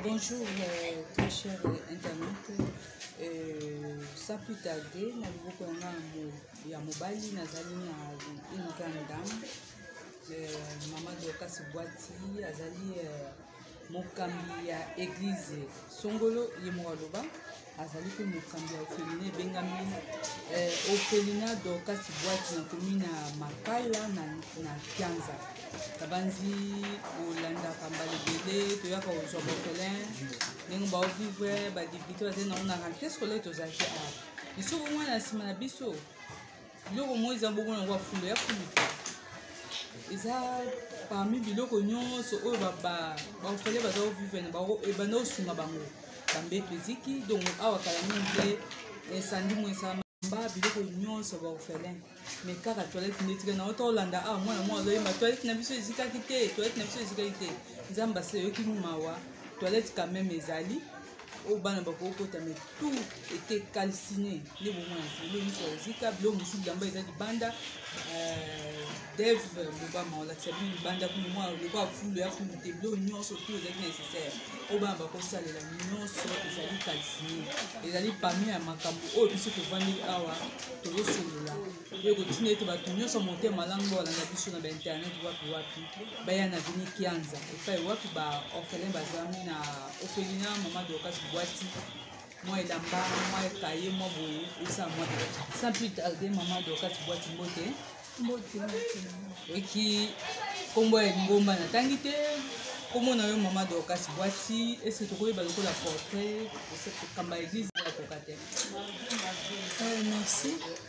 Bonjour, euh, très cher internaute. Euh, sans plus tarder, na liboko ya nga ya mobali nazali na une grande dame euh, mama dorcas bwati azali euh, mokambi ya église songolo ye moko aloba azali mpe mokambi ya ofelina ebengami eh, ofelina dorcas bwati na komi na makala na, na kianza nabanzi olandaka mbala ebele toyaka kozwa bafelin ndenge baovivre badepute bazali nango na rentrée scolaire tozalaki awa lisuku mwana na nsima na biso biloko moko eza bongo nango ya fulu ya fulu eza parmi biloko nyonso oyo baofele baza kovivre na bango ebanda kosunga bango bambeto eziki donc awa kala mingi te esandi mo esama ba biloko nyonso baofelin me kaka toilette nde etika nango tolanda awa mwana moko azoyemba toilette na biso ezikaki te toilette na biso ezikaki te nzambe aseyoki mawa toilette quand même ezali oyo bana bakokota me tout ete calcine nde bomona zilo miso ya zika biloko mosusu bilamba eza libanda euh, dev bobama olakisa bino libanda kuna mwa lokola fulu ya fulu te biloko nyonso tu ezalaki nécessaire oyo bana bakosalela nyonso ezali calcine ezali pami ya makambo oyo biso tovandi awa tozosolola oyo kotina ete bato nyonso ya motema malamu oyo balanda biso na bainternet wapi wapi baya na vini kianza epai wapi baorphelin bazwami na ofelina mama dorcas bwati mwa elamba mwa ekaye mwa boye esa mwa sans plus tarde mama dorcas bwati mbote oki nkombo ya lingomba natangi te nkombo na yo mama dorcas bwati ese tokoyeba lokola portrait okamba eglise akoka te eh, merci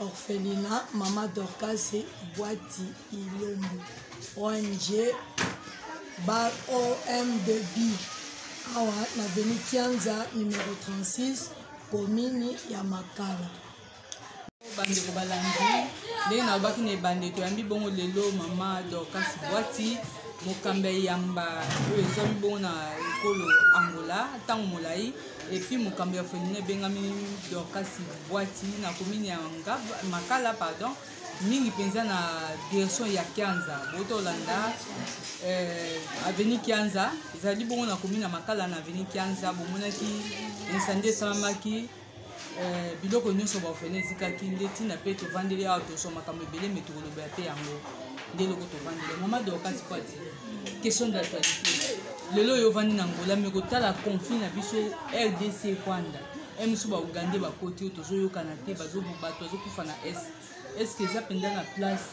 orphelina mama dorkase bwati ilombo ong bar omdb awa na veni kianza numero 36 komini ya makala bandeko balandi ndenge nalobaki na ebandeko yambi bongo lelo mama dorkas bwati mokambi ya yamba oyo ezwami bongo na ekolo angola ntango molai epuis mokambo ya folinga ebengami dorkasi bwati na komini ya makala pardon mingi mpenza na direction ya kianza bouti olanda eh, aveni kianza ezali bongo na komini ya makala na aveni kianza bomonaki insandi esalamaki eh, biloko nyonso baofene ezikaki nde ntina mpe tovandeli awa tozwa makambo ebele me tokoloba mpe yango nde eloko tovandeli mama dorkasi pati question d'actualité lelo oyo ovandi na ngola me kotala conflit na biso rdc rwanda mso baugande bakoti oyo tozoyokana te bato bazokufa na est estce eza mpenza na place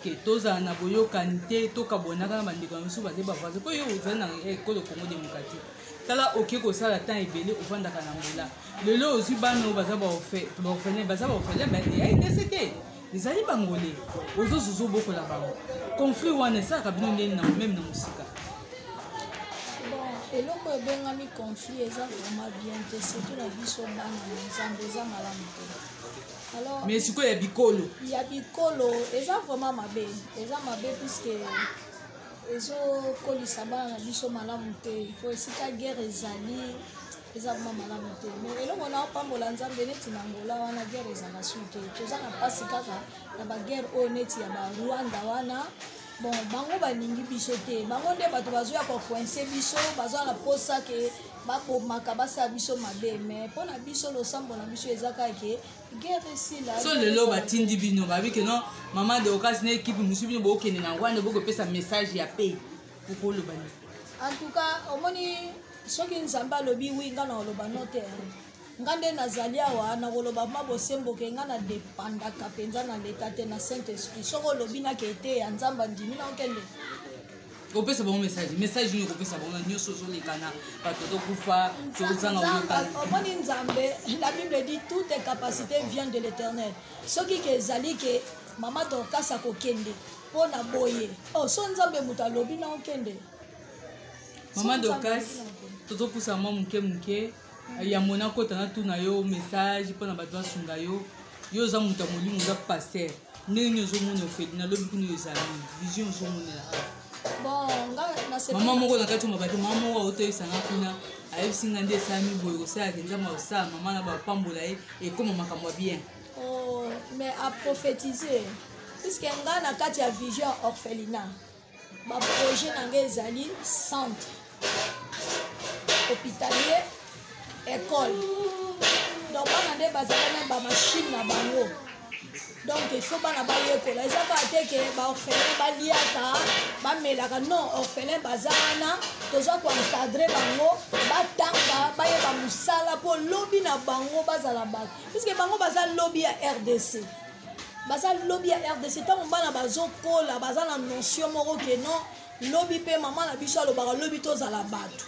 ke tozala na boyokani te tokabwanaka na bandeko na biso bazali bavoisin mpo yo ozali na ekolo eh, congo démocratique tala oke kosala temps ebele ofandaka na ngola lelo ozwi bana oyo baza baorphelin baza baorphelin baeidc te ezali bangole ozozo ozobokola bango conflit wana esalaka bino ndeni na meme na mosika eloko ebengami conflit eza vraiment bien te surtout na biso bana na nzambe eza malamu te alors mais sikoyo ya bikolo ya bikolo eza vraiment mabe eza mabe puiske ezokolisa bana na biso malamu te po esika guerre ezali eza vrma malamu te me eloko na opambola nzambe neti na ngola wana guerre ezala su te toza na mpasi kaka na baguerre oyo neti ya barwanda wana bon bango balingi biso te bango nde bato bazoya kokoinse biso baza na mposa ke babomaka basala biso mabe mai mpo na biso losambo na biso eza kaka ke guerre esila so lelo batindi bino babi ke non mama de okasi na ekipe mosusu bino bokende na rwanda bokopesa message ya pei okoloba nini en tout cas omoni soki nzambe alobi wi nga na oloba no te nga nde nazali awa nakoloba ma bosembo ke nga na depandaka mpenza na leta te na saint esprit soki olobi nake eteya nzambe andimi nakokende kopesa bango message message nini kopesa bango na nyonso ozoleka na bato tokufa tozanga oyokana omoni nzambe la bible dit toute capacité vient de l'éternel soki ke ezali ke mama dorkas akokende mpo na boye oh, so nzambe moto alobi na okende mama dokas tozopusa mwa moke moke eh, ya mona kota na tuna yo message mpo na bato basunga yo yo oza moto ya molimo oza paster ndenge nini ozomona ofeli nalobi kuna ezali vision ozomonela mama moko na kati ya mabaki mama moko aotoyesanga kuna ayebisi nga nde esalami boye kosalaka nzambe akosala mama na bapambola ye ekoma makambo ya bien oh, mais a prophétiser puisque nga na kati ya vision orphelinat baprojet na nga ezali centre hôpitalier école donc bana nde bazala na bamashine na bango donc ifo bana bayekola eza kaka te ke baorphelin baliaka bamelaka non orphelin baza wana toza koencadre bango batanga bayeba mosala mpo lobi na bango bazala bato puiske bango baza lobi ya rdc baza lobi ya rdc ntango bana bazokola baza na notion moko ke non lobi mpe mama na biso alobaka lobi tozala bato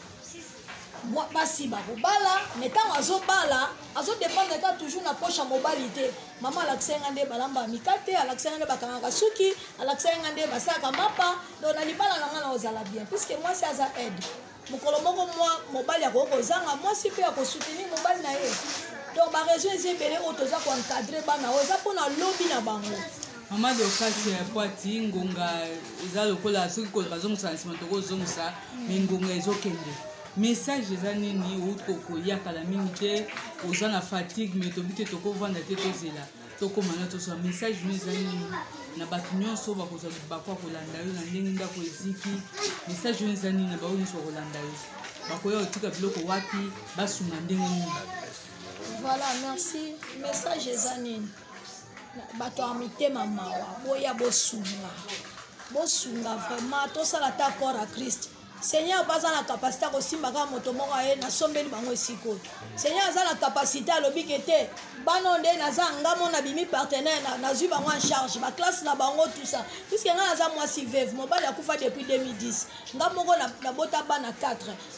basi bakobala me ntango azobala azodependre kaka toujours na poche ya mobali te mama alakisaki ngai nde balamba mikate alakisaki ngai nde bakangaka suki alakisaki ngai nde basalaka mapa donc na libala na ngai na ozala bien puiske mwasi aza aide mokolo moko mwa mobali akoki kozanga mwasi mpe akosoutenir mobali na ye donc baraison eza ebele oyo toza koencadre bana oyo eza mpona lobi na bango mama dokasi ya pwati ngonga eza lokola soki bazongisa na nsima tokozongisa me ngonga ezokende message eza nini outi kokoya kala mingi te oza na fatigue me tobi te tokovanda te tozela tokoma na tozwa message no eza nini na bato nyonso bakozwa libaku ya kolanda yo na ndenge ndako eziki message no eza nini na baoyo nyonso bakolanda yo bakoya kotika biloko wapi basunga ndenge nini voilà merci message eza nini bato ya mitema mawa boya bosunga bosunga vraiment tosala ta corps ya christ seigneur mpe aza na kapasité ya kosimba kaka moto moko aye nasombeli bango esika oyo seigneur aza na kapasité alobi ke te bana oyo nde naza nga mo nabimi partenaire nazwi bango en charge baklasse na bango tout ça puiske ngai naza mwasi veve mobali akufa depuis 2010 nga moko nabota bana 4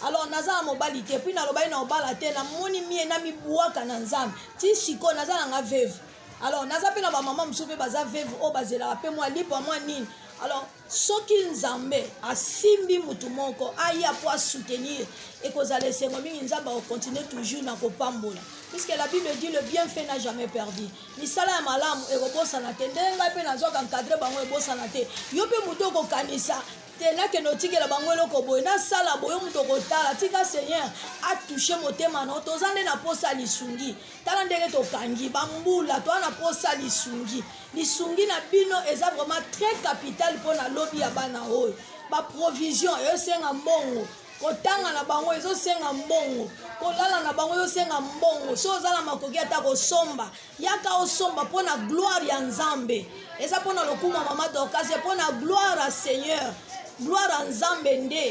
alors naza na mobali te puis nalobaki na obala te namoni mie namibwaka na nzambe ti sikoyo naza na nga veve alors naza mpe na bamama mosusu mpe baza veve oyo bazelaka mpe mwa lipa mwa nini alors soki nzambe asimbi motu moko aya mpo asoutenir ekozala esengo mingi nzambe akokontinue toujours na kopambola puisque la bible dit le bien fait n'a jamais perdu misala ya malamu ekobosana te ndenge ngai mpe nazwaka encadre bango ebosana te yo mpe motu okokanisa te nakende otikela bango eloko boye nasala boye moto okotala tika seigneur atouche motema na yo toza nde na mposa ya lisungi tala ndenge tokangi bambula toa na mposa lisungi lisungi na bino eza vraiment très capital mpo na lobi ya bana oyo baprovision eosenga mbongo kotanga na bango ezosenga mbongo kolala na bango ezosenga mbongo so oza na makoki ata kosomba yaka osomba mpo na gloire ya nzambe eza mpo na lokuma mama dorkase mpo na gloire ya seigneur gloire ya nzambe nde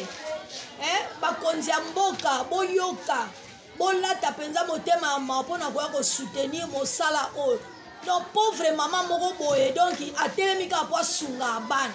eh, bakonzi ya mboka boyoka bolata mpenza motema ya mawa mpo na koya kosoutenir mosala oyo donc pauvre mama moko boye donc atelemi kaka mpo asunga bana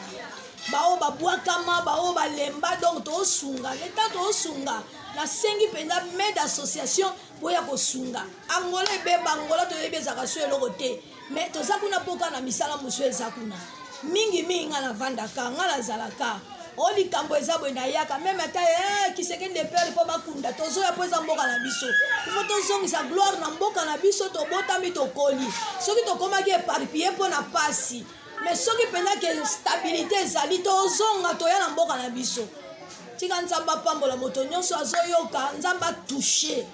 baoyo babwakama baoyo balemba donc toosunga leta toosunga nasengi mpenza mede association boya kosunga angola ebeba angola toyebi ezalaka so eloko te me toza kuna mpo kaka na misala mosusu eza kuna mingi mingi ngai navandaka ngai nazalaka o oh, likambo eza boye nayaka meme ata eh, kisekende pere mpo bakunda tozoya mpo eza mboka na biso ifo tozongisa gloire na mboka na biso tobotami tokoli soki tokomaki eparpille mpo na mpasi me soki mpenza ke stabilité ezali tozonga toya na mboka na biso tika nzambe apambola moto nyonso azoyoka nzambe atouche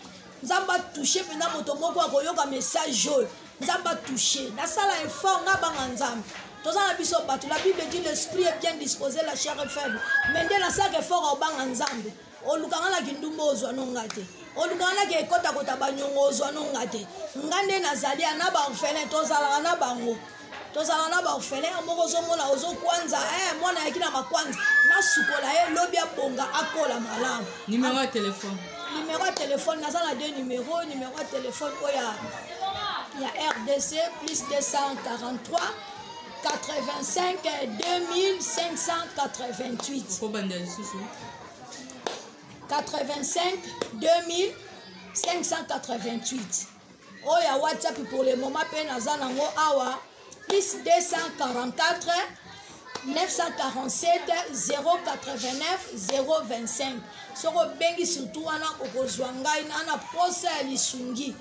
nzambe atouche mpenza moto moko akoyoka message oyo nzambe atouche nasala effort nabanga nzambe toza na biso bato la bible dit l'esprit est bien disposé la chair est faible mais nde nasalaka effort aobanga nzambe olukanga na kindumba ozwa no nga te olukanga na kekotakota banyongo ozwa no nga te nga nde nazali ana baorphelin tozalaka na bango tozala na baofele ya moko ozomona ozokwanza eh, mwana yaki na makwanza nasukola ye lobi abonga akola malamu nimero ya telefone nimero ya telefone naza na de nimero nimero ya telefone oyo ya ya rdc plus 243 85 2588 kobanda lisusu 85 2588 oyo ya whatsapp pour le moment mpe naza nango awa plus 244 947 089 025 soki obengi surtout wana okozwa ngai ana posa ya lisungi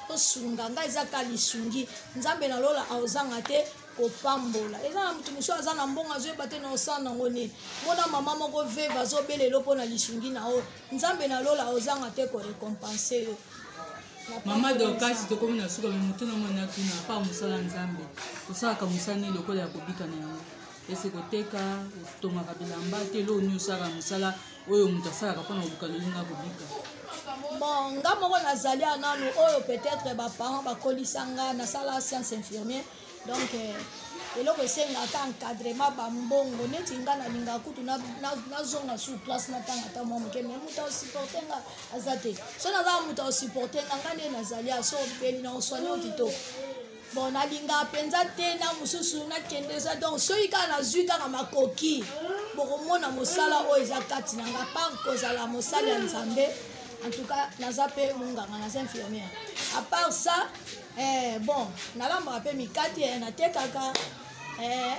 osunga ngai eza ka lisungi nzambe na lola aozanga te kopambola eza na moto mosusu aza na mbongo azoyeba te na osala nango nini mona mama moko veve azobelelo mpo na lisungi na yo nzambe na lola ozanga te korecompense yo mama dorkasi tokomi na suka me motuna moi natuna pa mosala nzambe tosalaka mosala nini lokola ya kobika na yango ese koteka otongaka bilamba te eloo nini osalaka mosala oyo moto asalaka mpona koluka lolinga kobika bon nga moko nazali ananu oyo peut-être baparent bakolisa nga nasala science infirmier donc euh, eloko esengaka encadrement bambongo neti nga nalingaka kutu nazonga sur place natanga ata mwa moke mai moto asupporte nga aza te so nazala moto asupporte nga nga nde nazali aso obeli na oswani o kitoko bon nalingaka mpenza te na mosusu nakende eza donc soki kaka nazwi kaka makoki bokomona mosala oyo eza kati na nga par kozala mosali ya nzambe en tout cas naza mpe monganga naza infirmière à part ça eh, bon nalambaka mpe mikate eh, natekaka eh,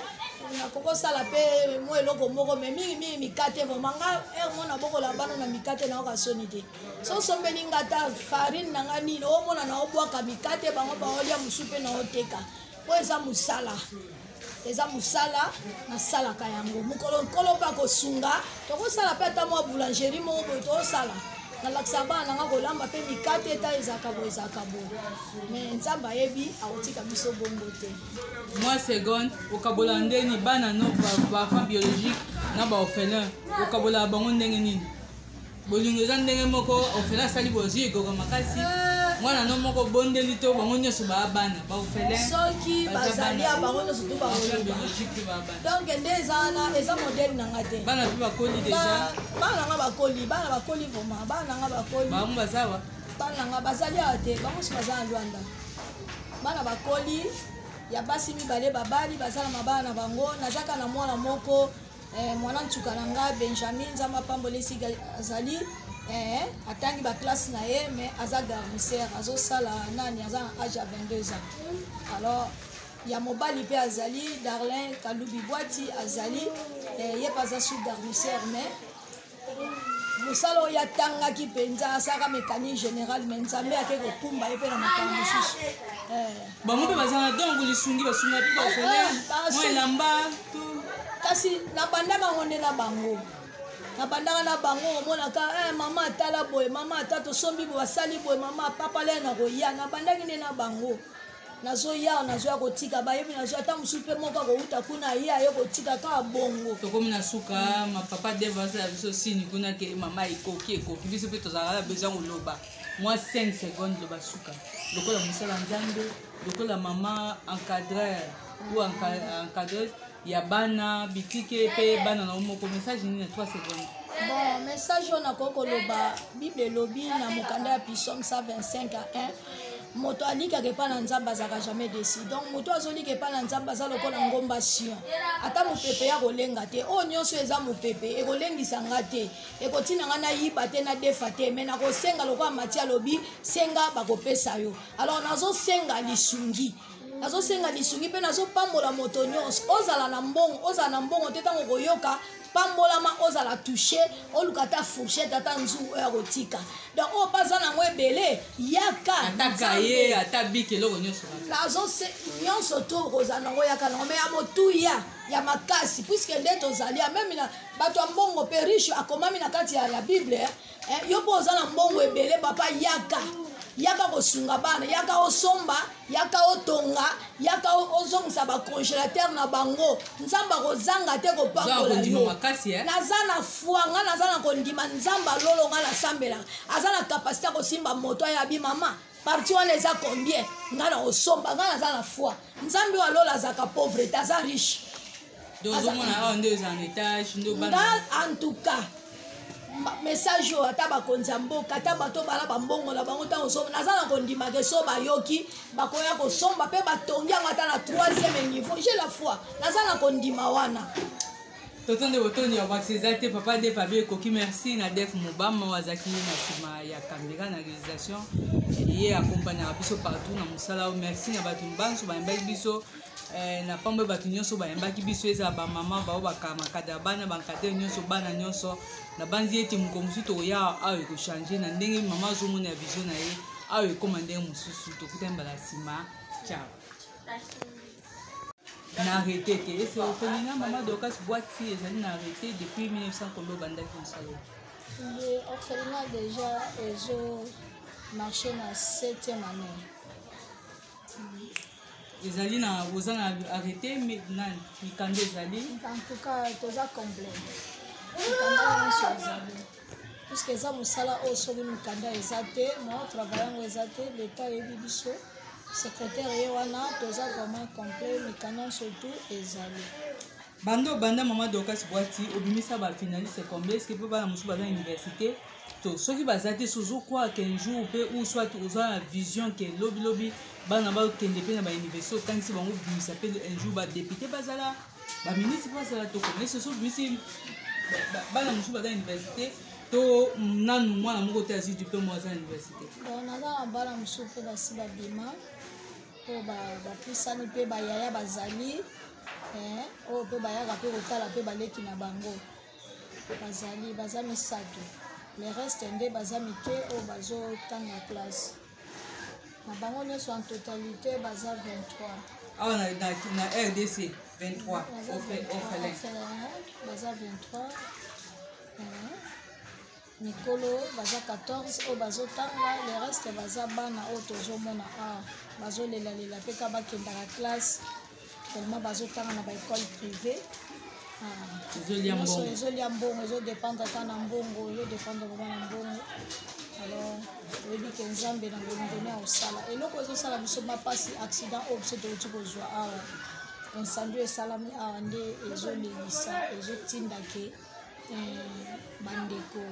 nakoki kosala mpe mwa eloko moko mai mingimingi mikate vraimen nga heure mona bokola bana na mikate nayoka soni te so osombeli nga ata farine na nga nini omona naobwaka mikate bango baolia mosu mpe naoteka oyo eza mosala eza mosala nasalaka yango mokolo nkolo mpe akosunga tokosala mpe ata mwa boulangerie moko boye tokosala nalakisa bana nanga kolamba mpe mikate eta ezalaka boye ezalaka boye me nzambe ayebi akotika biso bongo te mwa seconde okabola ndeni bana no baenfant biologique na baorphelin okabola bango ndenge nini bolingo eza ndenge moko ofele asali bozwi egoka makasi ah. mwana no moko obondeli to bango nyonso baa bana baofelesoki bazali ya bango nyonso to baodonk nde eza wana eza modele na nga te bana mpe bakoli deja bana na nga bakoli bana bakoli vraimen bana na nga bakoli bango bazawa bana na nga bazali awa te bango nyonso baza na lwanda bana bakoli ya basi mibale babali baza na mabala na bango nazaka na mwana moko eh, mwana nsuka na nga benjamin nzambe apambola esika azali eh, atangi baklasse na ye mais aza garnisere azosala nani aza na age ya 22 ans alors ya mobali mpe azali darlin kalubi bwati azali eh, ye mpe aza sous garnisere mais mosala oyo atangaki mpenza asaka mécanique générale me nzambe ake kokumba ye mpe na makambo mosusu eh. bango mpe bazala donc lisungi basunga mpe baofele ah, ah, mwa elamba kasi nabanda bango nde na bango nabandaka na bango omonaka eh, mama atala boye mama ata tosombi boye asali boye mama papa le nakoya nabandaki nde na bango nazoya nazoya kotika bayebi nazoya ntango mosusu mpe moko akowuta kuna ye aye kotika kaka bongo tokomi na suka mm. mapapa deve asala biso sini kuna ke mama ekoki ekoki biso mpe tozalaka na besoin koloba mwa 5 seconde loba suka lokola mosala nzambe lokola mama encadreur ou encadreuse ya bana bitike mpe bana na yo moko message nini na 3 seconde bon message oyo nakoki koloba bible elobi na mokanda ya pisome 125 a 1 moto alikaka epai na nzambe azalaka jamais desi donc moto azolika epai na nzambe aza lokola ngomba sion ata mopepe ya kolenga te oyo nyonso eza mopepe ekolengisa nga te ekotina nga nayiba te nadefa te mai nakosenga lokola mati alobi senga bakopesa yo alors nazosenga lisungi nazosenga lisungi mpe nazopambola moto nyonso ozala na mbongo ozala na mbongo te ntango koyoka pambolama ozala touche oluka ata fourchette ata nzu oyo ya kotika donc oyo mpe aza nango ebele yaka nazose nyonso to okozala nango yaka nango me ya motuya ya makasi puiske nde tozali ya meme na bato ya mbongo mpe riche akomami na kati ya, ya bible eh, yo mpo oza na mbongo ebele papa yaka yaka kosunga bana yaka osomba yaka otonga yaka ozongisa bacongélateur na bango nzambe akozanga te kopakola yo eh? naza na foi ngai naza na kondima nzambe alolo ngai nasambelaka aza na kapasité ya kosimba moto ayabi mama parti wana eza combien ngai na osomba ngai naza na foi nzambe oyo alola azalaka pauvre te aza riche donc ozomona awa nde eza na etage nde obana en tout cas message oyo ata bakonzi ya mboka ata bato bala bambongo na bango ntango osomba naza na kondima ke so bayoki bakoya kosomba mpe batongi yango ata na troisième niveau je la foi naza na kondima wana toto nde botondi ya bakisi eza te papa def abi ekoki merci na def mobama oyo azalaki na nsima ya kamera na réalisation ye accompagnaka biso partout na mosala oyo merci na bato banso bayambaki biso Eh, na pambo bato nyonso bayambaki biso ezala bamama bao bakamakada bana bankadere nyonso bana nyonso nabanzi ete mokolo mosusu tokoya awa ekochange na ndenge mama azomona ya vision na ye awa ekoma ndenge mosusu tokutani mbala nsima ciao na arrete te ese ofelinga mama dokas bwati ezali na arrete depuis 1900 kombe obandaki mosala ye orphelinat déjà ezo marché na 7e année mm. ezali na boza na arrete nani mikanda ezali antuka toza complet mikanda nyonso ezali puiske eza mosala oyo soki mikanda eza te mwa travail yango eza te leta ayebi biso secrétaire ye wana toza vraiment complet mikanda nyonso tout ezali banda obanda mama dorcas bwati obimisa ba finaliste combien ce que mpe bana mosusu baza université to soki baza te sozokwaa ken jour mpe ou soit oza na vision ke lobilobi bana bakende mpe na bauniversité otangisi bango obimisa mpe un jour badepute bazala baministre mpe bazala tokoma soso obimisi bana mosusu baza na université to nanu mwana moko te azwi diplome aza na université naza na bana mosusu mpe basi babima oyo bapusani mpe bayaya bazali eh, oyo mpe bayaka mpe kotala mpe baleki na bango bazali baza misato le reste nde baza mike oyo bazotanga classe na bango nyonso en totalité baza 23 awa na, na, na rdc 23 baza 23 mikolo baza 14 oyo bazotanga le reste baza bana oyo tozomona a ah, bazolelalela mpe ka bakendaka classe tellement bazotanga na baekole privé ah, ezolia mbongo ezodependre ata na mbongo ezodependre vraimen na mbongo alors oyebi ke nzambe na bolingo ne akosala eloko ezosala biso bapasi accident oyo biso touti kozwa awa ah, incendie esalami awa nde ezolelisa ezotinda ke eh, bandeko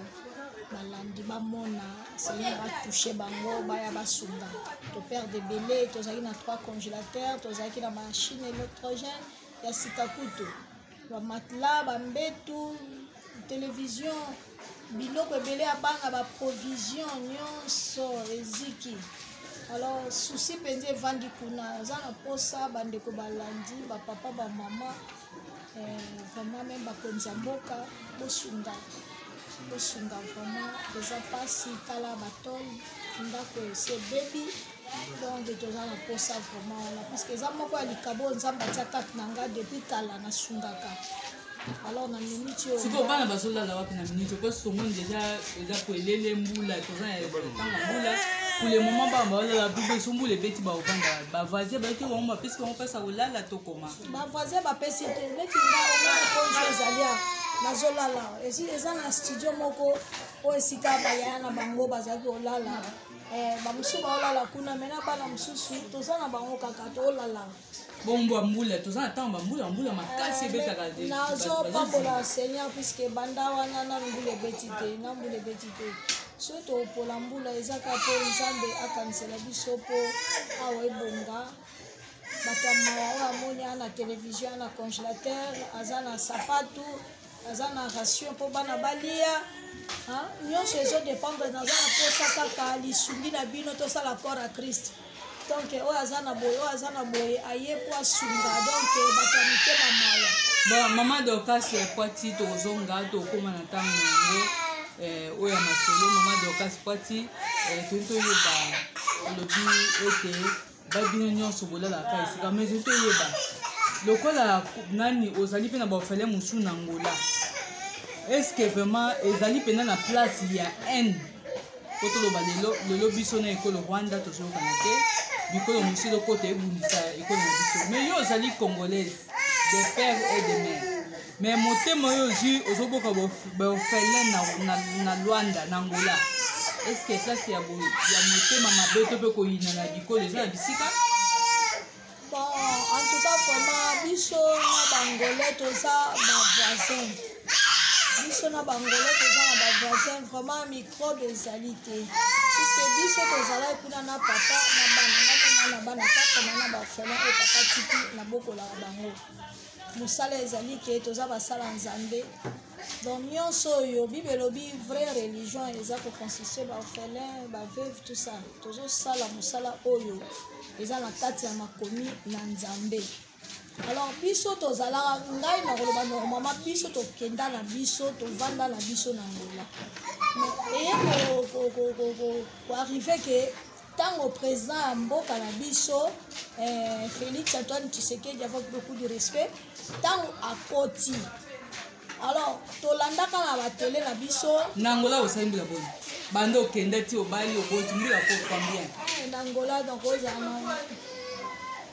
balandi bamona seigneur batouche bango baya basunga toperde ebele tozalaki na trois congélateur tozalaki na machine électrogène ya sika kutu bamatela bambetu televizio biloko ebele ya bana baprovisio nyonso eziki alors susi mpenza evandi kuna aza na mposa bandeko balandi bapapa bamama Eh, vraiment meme bakonzi ya mboka bosunga bosunga vraiment eza mpasi tala batole ndako esi ebebi donc toza na mposa vraiment wana parceke eza moko ya likabo oyo nzambe atya kati na ngai depuis kala nasungaka alors na minute oyo sikoyo bana bazolala wapi na minute oyo mposi tomoni deja eza koelele mbula toza na ntango ya mbula pour le moment bana baolala bibeso mbula ebeti baovanda bavoisin bayoki bango bapesi bango mpasi ya kolala tokoma bavoisin bapesi te neti nga omona konso ezali a nazolala eza na studio moko oyo esika bayaya na bango bazali kolala eh, bamosusu baolala kuna me na bana mosusu toza na bango kaka tolala bombwa mbula toza na ntango bambula mbula makasi eh, ebetaka te nazopambola seigneur puiske banda wana na mbula ebeti te na mbula ebeti te so topola mbula ezaka mpo nzambe akanisela biso mpo awa ebonga bato ya mawa oyo amoni aa na televizio aa na congélateur aza na sapatu aza na ration mpo bana balia nyonso ezodépendre naza na mposa kaka lisungi na bino tosala corps ya christ donc oyo aza na boye oyo aza na boye aye mpo asunga donc bato ya mitema mawa bon mama dorcas ya kwati tokozonga tokóma na ntango yango eh, oyo ya masolo mama dorcas kwati eh, toyeba olobi ete babino nyonso bolalaka esika mais otoyeba lokola nani ozali mpe na baofele mosusu na ngola estce vraiment ezali mpenza na place ya haine mpo toloba lelo lelo biso na ekolo rwanda tozoyokana te bikolo mosusu elokota ebundisa ekolo na biso mais yo ozali congolaise de père et de mère mais motema oyo ozwi ozoboka baofele na lwanda na angola eske place ya motema mabe to mpe koyina na bikolo eza na bisika bon en tout cas vraiment biso na bangole toza bavoisin biso na bangole toza na bavoisin vraiment microbe ezali te puiske biso tozalaki kuna na papa na bana ngamona na bana kaka na na baofele oyo papa tiki nabokolaka bango mosala ezali ke toza basala nzambe donc nyonso oyo bible elobi vrai religion eza koconstitue baorphelin baveuve tout ça tozosala mosala oyo eza na kati ya makomi na nzambe alors biso tozalaka ngai nakoloba normalement biso tokenda na biso tovanda na biso na ngola mais eye koarrive ke Tango président ya mboka na biso eh, Félix Antoine Tshisekedi avec beaucoup de respect tango akoti alors tolandaka na batele na biso na angola osali mbila boni banda okenda ti obali oboti mbila kokwa bien eh, na angola donc ozala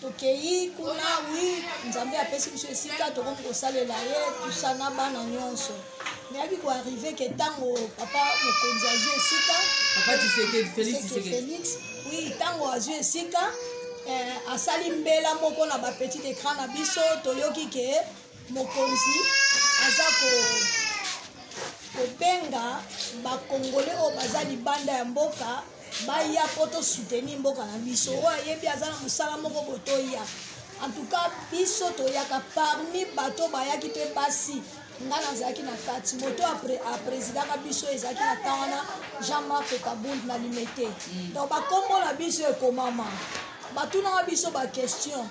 tokeyi kuna wi nzambe apesi biso esika tokomi kosalela ye tusa na bana nyonso nayaki koarrive ke ntango papa mokonzi azwi esika félix wi ntango azwi esika eh, asali mbela moko na bapetit écran na biso toyoki ke mokonzi aza ko kobenga bakongole oyo baza libanda ya mboka baya mpo tosuteni mboka na biso oyo ayebi aza na mosala moko botoya en tout cas biso toyaka parmi bato bayaki mpe basi ngai nazalaki na kati moto aprésidaka biso ezalaki na ntan wana jean marc kabund na limete mm. donc bakombo na biso ekomama batunaka biso baquestion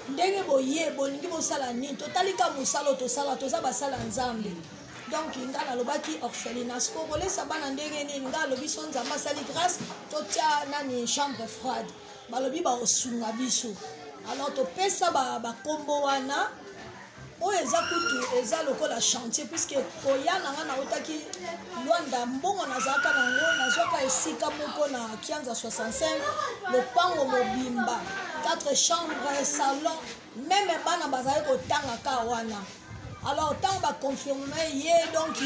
ndenge boye bolingi bosala nini totali ka mosala oyo tosala toza basala nzambe donc nga nalobaki orphelinage po kolesa bana ndenge nini nga alobi so nzambe asali grâce totya nani chambre froide balobi baosunga biso alors topesa bakombo ba wana oyo eza kutu eza lokola chantier puiske koya na nga nautaki lwanda mbongo nazalaka na yango nazwaka esika moko na kianza 65 lopango mobimba 4 chambre salon meme bana bazali kotanga ka wana alors ntango baconfirme ye donc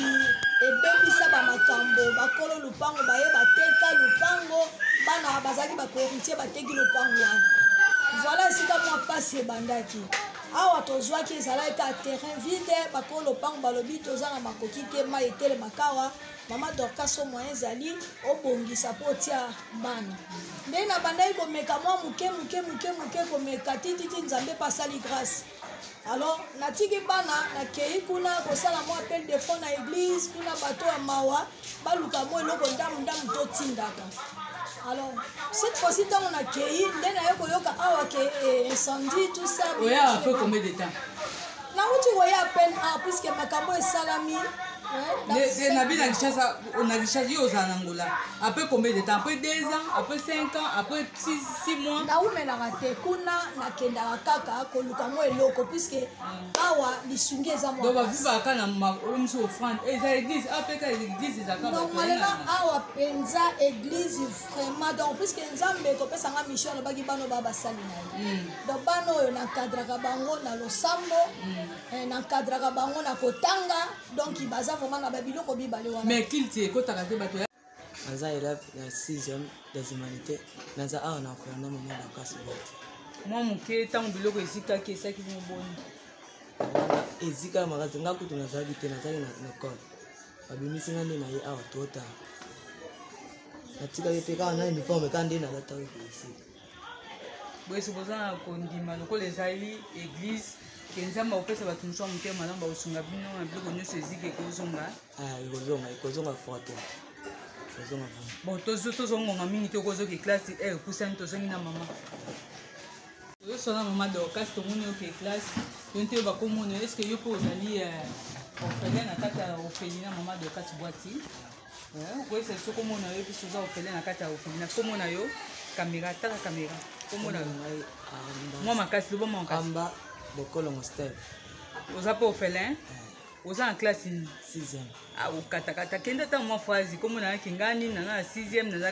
ebebisa bamakambo bakolo lopango baye bateka lopango bana bazalaki bakoheritier bateki lopango wana voilà esika mwa mpasi ebandaki awa tozwaki ezalaki ka terrain vide bakolo lopango balobi toza na makoki te mai etelema kawa mama dorkaso moyen ezali obongisa mpo otia bana nde nabandaki komeka mwa moke moke moke moke komeka tititi nzambe mpe asali grâce alors natiki bana nakei kuna kosala mwa appel de fond na église kuna bato ya mawa baluka mwa eloko ndambu ndambu totindaka alors cette fois-ci ntango nakei nde naye koyoka awa ke eh, incendie tout ça oya ape combien de temps nauti koya peine a ah, puisque makambo esalami na bi na kinshasa na kinshasa yo ozala na ngola après combien de temps après deux ans après cinq ans après six mois naumelaka te kuna nakendaka kaka koluka mwa eloko puisque awa lisungi eza mwa donc bavivaka kaka na ma- oyo mosusu ofrande Eh, eza église ape kaka église eza kaka donc malela awa mpenza église vraiment donc puiske nzambe kopesa nga mission alobaki bana oyo baa basali na ye Mm. donc bana oyo nankadraka bango na losambo eh, nankadraka bango na kotanga donc baza vraiment na babiloko mibale wana mais kilte ekotaka te bato ya naza elève ya 6e des humanités naza awa na koya na mama dakasi bati mwa moke ntango biloko ezikaki esaki bino boni ezika ya makasi nga kutu nazalaki te nazalaki na ekole babimisi nga nde na ye awa totala natikaki mpe kaka na uniforme kaka nde nalataki koesika boyese boza na kondima lokola ezali eglise ke nzambe akopesa bato mosusu ya motema malamu bakosunga bino na biloko nyonso eziki ekozonga ah, ekozonga ekozonga foto ekozonga bon tozongonga mingi te okozoki classe e eh, kusani tozongi na mama tozosona mama dorcas tomoni oke classe to nte bakomona eske yo mpe ozali eh, orphelin na kati ya orphelina mama dorcas bwati Eh, okoyesa biso kombo na yo biso oza ofele na kati ya ofele na kombo na yo kamera tala kamera kombo na yo mwa makasi loba mwa makasi amba bokolo mostel oza mpe ofele eh. oza na classe nini ah, okatakata kende ata mwa frazi kombo na yo kingani nana na 6 naza